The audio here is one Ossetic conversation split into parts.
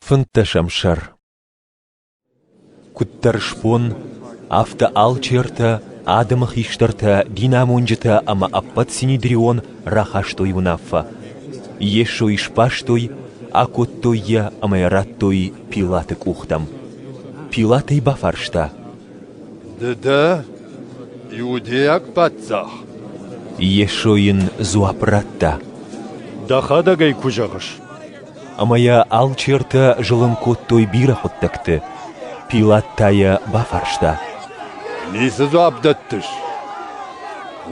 Фынддӕсӕм сӕр Куыддӕр сбон, афтӕ алчертӕ, адӕмы хистӕртӕ, динамонджытӕ ӕмӕ ӕппӕт синедрион рахастой уынаффӕ. Йесо ӕй сбастой, акодтой йӕ ӕмӕ йӕ радтой Пилаты къухтӕм. Пилат ӕй бафарста: «Ды дӕ, иудейаг паддзах?» Йесо йын дзуапп радта: «Дӕхӕдӕг ӕй куы зӕгъыс». ӕмӕ йӕ алчертӕ зылын кодтой бирӕ хъуыддӕгты. Пилат та йӕ бафарста: «Ницы дзуапп дӕттыс?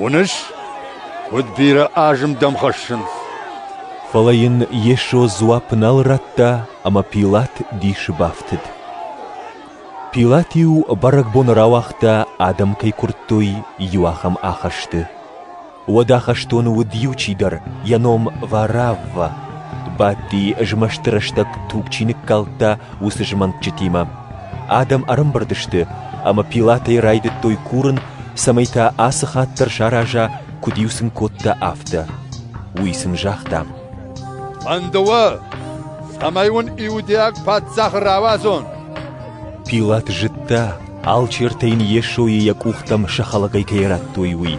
Уыныс, куыд бирӕ азым дӕм хӕссынц?» Фӕлӕ йын Йесо дзуапп нал радта, ӕмӕ Пилат дисы бафтыд. Пилат-иу бӕрӕгбоны рауагъта, адӕм кӕй куырдтой, иу ахӕм ахӕсты. Уӕдӕ хӕстоны уыд иу чидӕр, йӕ ном Варавва. Бадти змӕсты рӕстӕг туг чи ныккалдта, уыцы змӕнтджытимӕ. Адӕм ӕрӕмбырд сты, ӕмӕ Пилатӕй райдыдтой курын, цӕмӕй та ацы хатт дӕр сараза, куыд-иу сын кодта, афтӕ. Уый сын загъта: «Фӕнды уӕ, цӕмӕй уын иудейаг паддзах рауадзон?» Пилат зыдта, алчертӕ йын Йесойы йӕ къухтӕм сӕ хӕлӕгӕй кӕй радтой, уый.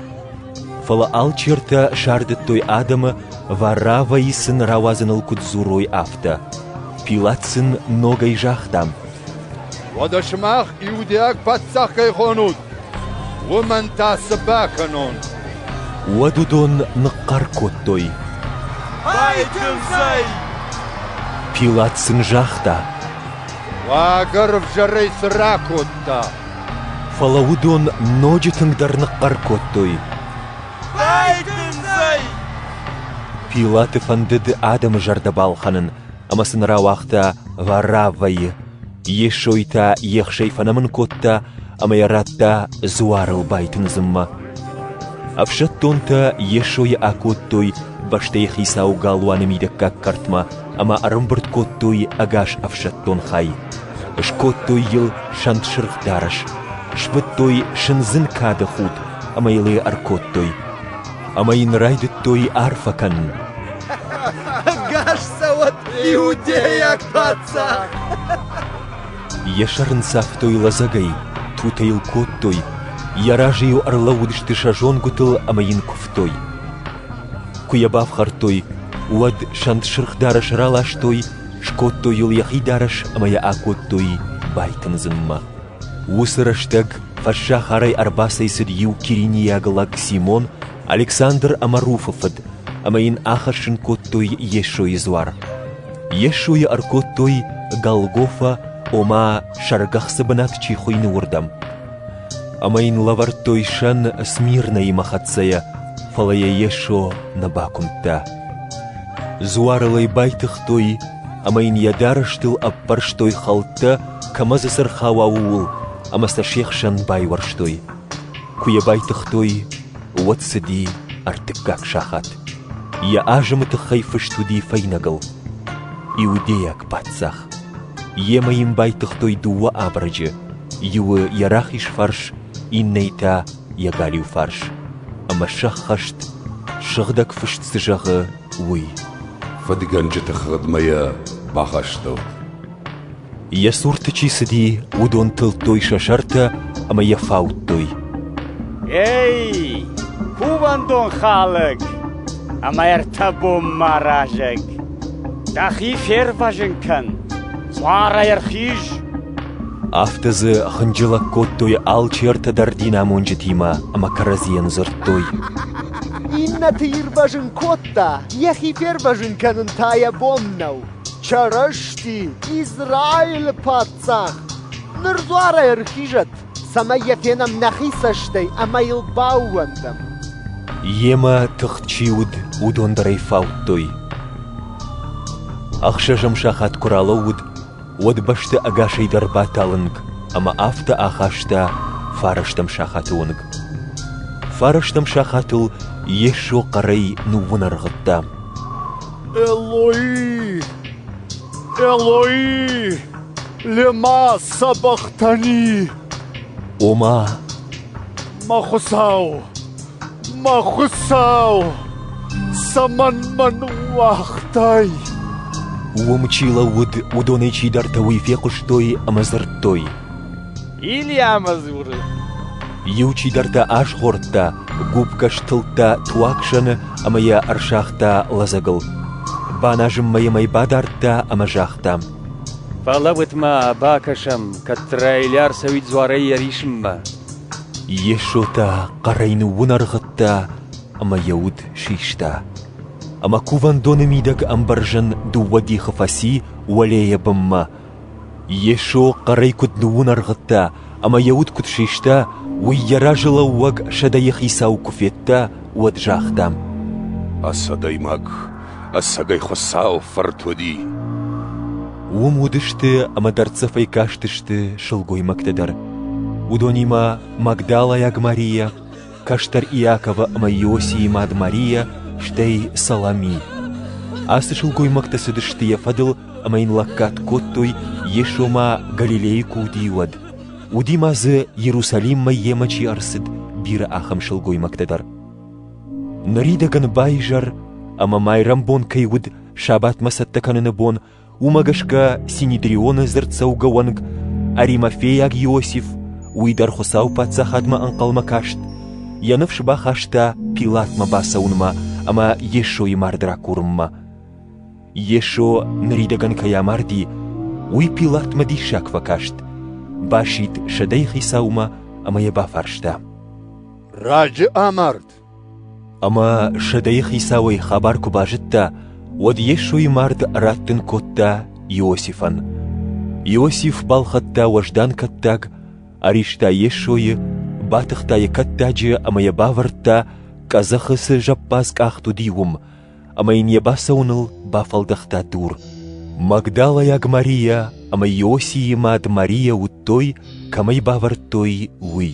Фӕлӕ алчертӕ сардыдтой адӕмы, Варравӕй сын рауадзыныл куыд дзурой, афтӕ. Пилат сын ногӕй загъта: «Уӕдӕ сымах иудейаг паддзах кӕй хонут, уымӕн та цы бакӕнон?» Уӕд уыдон ныхъхъӕр кодтой: «Байтындзӕй!» Пилат сын загъта: «Уагӕр ӕвзӕрӕй цы ракодта?» Фӕлӕ уыдон ноджы тынгдӕр ныхъхъӕр кодтой: Байтындзӕй! Пилаты фӕндыд адӕмы зӕрдӕ балхӕнын ӕмӕ сын рауагъта Вараввӕйы. Йесой та ехсӕй фӕнӕмын кодта ӕмӕ йӕ радта дзуарыл байтындзынмӕ. Ӕфсӕддонтӕ Йесойы акодтой бӕстӕйы хицауы галуаны мидӕггаг кӕртмӕ ӕмӕ ӕрӕмбырд кодтой ӕгас ӕфсӕддон хай, скодтой йыл сӕнтсырх дарӕс, сбыдтой сындзын кады худ ӕмӕ йыл йӕ ӕркодтой. Ӕмӕ йын райдыдтой арфӕ кӕнын. Ӕгас цӕуӕд иудейаг паддзах! Йӕ сӕр ын цавтой лӕдзӕгӕй, тутӕ йыл кодтой, йӕ разы йыл ӕрлӕууыдысты сӕ зонгуытыл ӕмӕ йын куывтой. Куы йӕ бафхӕрдтой, уӕд сӕнтсырх дарӕс раластой, скодтой йыл йӕхи дарӕс ӕмӕ йӕ акодтой байтындзынмӕ. Уыцы рӕстӕг фӕссахарӕй ӕрбацӕйцыд иу киринийаг лӕг Симон, Александр ӕмӕ Руфы фыд, ӕмӕ йын ахӕссын кодтой Йесойы дзуар. Йесойы ӕркодтой Голгофа, ома, сӕргӕхцы бынат чи хуыйны, уырдӕм. ӕмӕ йын лӕвӕрдтой сӕн Смирнаимӕ хӕццӕйӕ, фӕлӕ йӕ Йесо нӕ бакуымдта. Дзуарыл ӕй байтыгътой ӕмӕ йын йӕ дарӕстыл ӕппӕрстой хӕлттӕ, кӕмӕ дзы цы рхауа, ууыл, ӕмӕ сӕ се хсӕн байуӕрстой. Куы йӕ байтыгътой, уӕд цыди ӕртыккаг сахат. Йӕ азымы тыххӕй фыст уыди фӕйнӕгыл: «Иудейаг паддзах». Йемӕ йын байтыгътой дыууӕ абырӕджы, Иуы йӕ рахиз фарс, иннӕйы та йӕ галиу фарс, ӕмӕ сӕххӕст, сыгъдӕг фыст цы зӕгъы, уый. Фыдгӕнджыты хыгъдмӕ йӕ бахастӕуыд. Йӕ цурты чи цыди, уыдон тылдтой сӕ сӕртӕ ӕмӕ йӕ фаудтой. Эй, кувӕндон хӕлӕг ӕмӕ ӕртӕ бон ма рӕзӕг! Дӕхи фервӕзын кӕн! Цъарӕй ӕрхиз! Афтӕ дзы хынджылӕг кодтой алчертӕ дӕр динамонджытимӕ ӕмӕ кӕрӕдзийӕн дзырдтой. Иннӕты ирвӕзын кодта, йӕхи фервӕзын кӕнын та йӕ бон нӕу. Чырысти, Израилы паддзах, ныр дзуарӕй ӕрхизӕд! цӕмӕй йӕ фенӕм нӕхи цӕстӕй ӕмӕ йыл баууӕндӕм. Йемӕ тыхт чи уыд, уыдон дӕр ӕй фаудтой. Ӕхсӕзӕм сахат куы ралӕууыд, уӕд бӕсты ӕгасӕй дӕр баталынг ӕмӕ афтӕ ахаста фарӕстӕм сахаты онг. Фарӕстӕм сахатыл Йесо хъӕрӕй ныууынӕргъыдта. «Эллои! Эллои!» Лемӕ сӕ бӕхтӕни! Ома? Мӕ хуыцау, мӕ хуыцау, цӕмӕн мӕн уагътай? Уым чи лӕууыд, уыдонӕй чидӕртӕ уый фехъуыстой ӕмӕ дзырдтой. Ильямӕ дзуры. Иу чидӕртӕ азгъордта, гуыппгӕс тылдта туагсӕны ӕмӕ йӕ ӕрсагъта лӕдзӕгыл. Баназынмӕ йӕм ӕй бадардта ӕмӕ загъта. Фӕлӕ уӕдмӕ бакӕсӕм, кӕддӕра Елиа ӕрцӕуид дзуарӕй йӕ рисынмӕ. Йесо та хъӕрӕй ныууынӕргъыдта ӕмӕ йӕ уд систа. Ӕмӕ кувӕндоны мидӕг ӕмбӕрзӕн дыууӕ дихы фӕци уӕлейӕ бынмӕ. Йесо хъӕрӕй куыд ныууынӕргъыдта ӕмӕ йӕ уд куыд систа, уый йӕ разы лӕууӕг сӕдӕйы хицау куы федта, уӕд загъта: «Ас адӕймаг, Ӕцӕгӕй Хуыцау фырт уыди. Уым уыдысты ӕмӕ дӕрддзӕфӕй кастысты сылгоймӕгтӕ дӕр. Уыдонимӕ Магдалайаг Марийӕ, кӕстӕр Иаковы ӕмӕ Иосийы мад Марийӕ, стӕй Салами. Ацы сылгоймӕгтӕ цыдысты йӕ фӕдыл ӕмӕ йын лӕггад кодтой, Йесо ма Галилейы куы уыди, уӕд. Уыди ма дзы Иерусалиммӕ йемӕ чи ӕрцыд, бирӕ ахӕм сылгоймӕгтӕ дӕр. Ныридӕгӕн баизӕр ӕмӕ майрӕмбон кӕй уыд сабатмӕ цӕттӕ кӕныны бон, уымӕ гӕсгӕ Синедрионы дзырддзӕугӕ уӕнг Аримафейаг Иосиф уый дӕр Хуыцауы Паддзахадмӕ ӕнхъӕлмӕ каст, йӕ ныфс бахаста Пилатмӕ бацӕуынмӕ ӕмӕ Йесойы мард ракурынмӕ. Йесо ныридӕгӕн кӕй амарди, уый Пилатмӕ диссаг фӕкаст, басидт сӕдӕйы хицаумӕ ӕмӕ йӕ бафарста: Раджы амард. Ӕмӕ сӕдӕйы хицауӕй хабар куы базыдта, уӕд Йесойы мард раттын кодта Иосифӕн. Иосиф балхӕдта уӕздан кӕттаг, ӕриста Йесойы, батыхта йӕ кӕттаджы ӕмӕ йӕ бавӕрдта, къӕдзӕхы цы зӕппадз къахт уыди, уым, ӕмӕ йын йӕ бацӕуыныл бафӕлдӕхта дур. Магдалайаг Марийӕ ӕмӕ Иосийы мад Марийӕ уыдтой, кӕмӕй бавӕрдтой, уый.